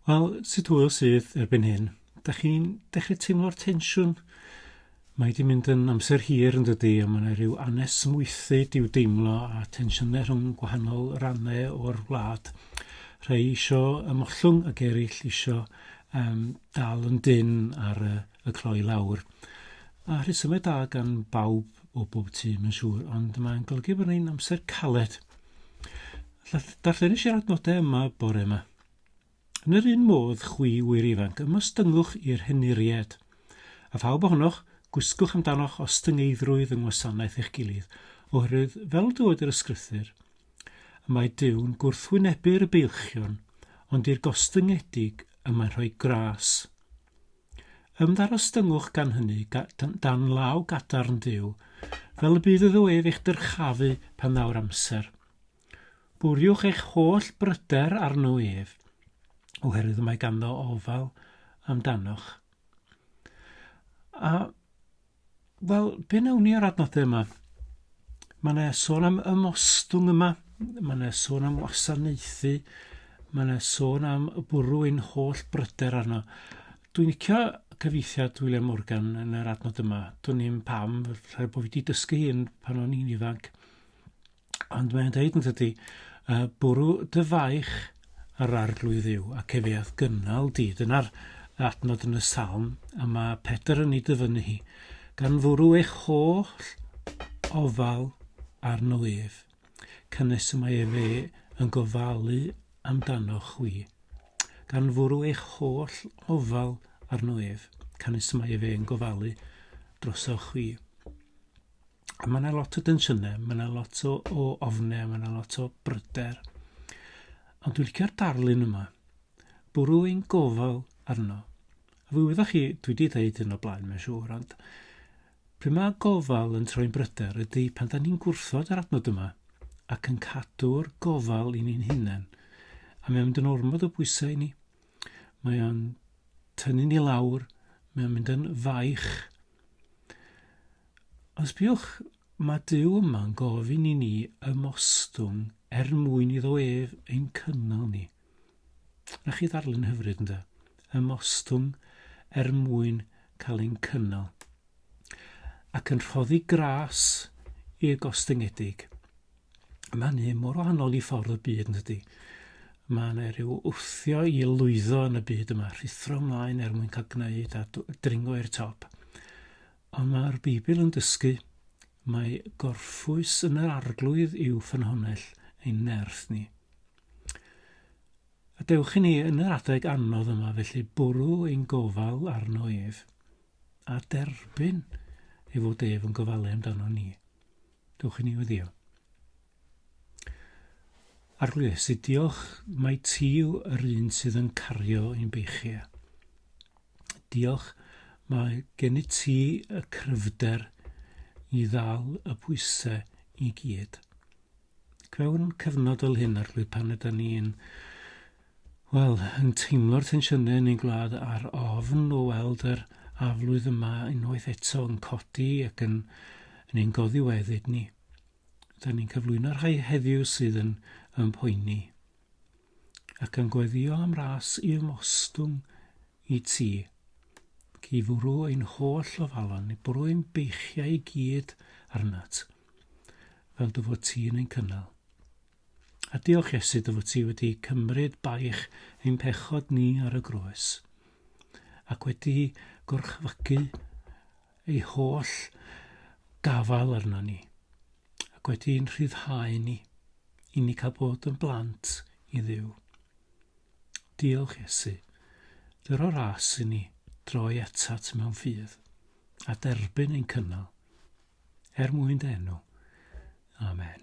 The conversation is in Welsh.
Wel, sut hwyl sydd erbyn hyn? Da chi'n dechrau teimlo'r tensiwn? Mae wedi mynd yn amser hir yn dydy, a mae yna rhyw anesmwythu diw deimlo a tensiynau rhwng gwahanol rannau o'r wlad. Rhai eisiau ymollwng ac eraill eisiau um, dal yn dyn ar y, y cloi lawr. A rhesymau da gan bawb o bob tîm yn siŵr, ond mae'n golygu bod ni'n amser caled. Darllenis i'r adnodau yma bore yma. Yn yr un modd, chwi wir ifanc, ymostynwch i'r henuried. A phawb ohonoch, gwisgwch amdanoch ostyngeiddrwydd yng ngwasanaeth eich gilydd, oherwydd, fel dywed yr ysgrythur, y mae Duw'n gwrthwynebu'r beilchion, ond i'r gostyngedig y mae'n rhoi gras. Ymddarostyngwch gan hynny dan law gadarn Duw, fel y bydd iddo ef eich dyrchafu pan ddaw'r amser. Bwriwch eich holl bryder arno ef, oherwydd y mae ganddo ofal amdanoch. A Wel, be wnawn ni ar adnodau yma? Mae yna sôn am ymostwng yma, mae yna sôn am wasanaethu, mae yna sôn am bwrw ein holl bryder arno. Dwi'n licio cyfeithiad William Morgan yn yr adnod yma. Dwi'n ni'n pam, rhaid bod fi wedi dysgu hyn pan o'n i'n ifanc. Ond mae'n dweud yn tydi, uh, bwrw dy faich ar arglwydd ddiw ac efe ath gynnal di. Dyna'r adnod yn y salm a mae Pedr yn ei dyfynnu hi. Gan fwrw eich holl ofal arno ef, cynnes y mae efe yn gofalu amdano chwi. Gan fwrw eich holl ofal arno ef, cynnes y mae efe yn gofalu drosoch chwi. A mae yna lot o densiynau, mae yna lot o, o ofnau, mae yna lot o bryder. Ond dwi'n licio'r darlun yma. Bwrw ein gofal arno. A fe wyddoch chi, dwi wedi dweud hyn o blaen, mae'n siŵr, ond pryd mae gofal yn troi'n bryder ydy pan da ni'n gwrthod yr adnod yma ac yn cadw'r gofal i ni'n hunain. A mae'n mynd yn ormod o bwysau i ni. Mae o'n tynnu ni lawr, mae o'n mynd yn faich. Os biwch, mae Dyw yma'n gofyn i ni ymostwng er mwyn iddo ef ein cynnal ni. Na chi ddarllen hyfryd ynddo? Ymostwng er mwyn cael ein cynnal. Ac yn rhoddi gras i'r gostyngedig. Mae hynny mor wahanol i ffordd y byd yn dydi. Mae yna rhyw wthio i lwyddo yn y byd yma, rhuthro ymlaen er mwyn cael gwneud a dringo i'r top. Ond mae'r Beibl yn dysgu mae gorffwys yn yr arglwydd i'w ffynhonnell ein nerth ni. A dewch i ni yn yr adeg anodd yma felly bwrw ein gofal arno ef a derbyn ei fod ef yn gofalu amdano ni. Dewch i ni weddio. Arglwydd, Iesu, diolch mae ti yw yr un sydd yn cario i'n beichia. Diolch mae gen i ti y cryfder i ddal y pwysau i gyd. Mewn cyfnod fel hyn, Arglwydd, pan ydyn ni'n Wel, yn teimlo'r tensiynau yn ein gwlad ar ofn o weld yr aflwydd yma unwaith eto yn codi ac yn, yn ein goddiweddyd ni. Da ni'n cyflwyno rhai heddiw sydd yn, yn poeni. Ac yn gweddio am ras i ymostwng i ti. Ac i fwrw ein holl ofalon, i bwrw ein beichiau i gyd arnat. Fel dy fod ti yn ein cynnal. A diolch Iesu dy fod ti wedi cymryd baich ein pechod ni ar y groes, ac wedi gorchfygu ei holl gafael arno ni, ac wedi ein rhyddhau ni, i ni cael bod yn blant i Dduw. Diolch Iesu, dyr o ras i ni droi atat mewn ffydd, a derbyn ein cynnal. er mwyn dy enw. Amen.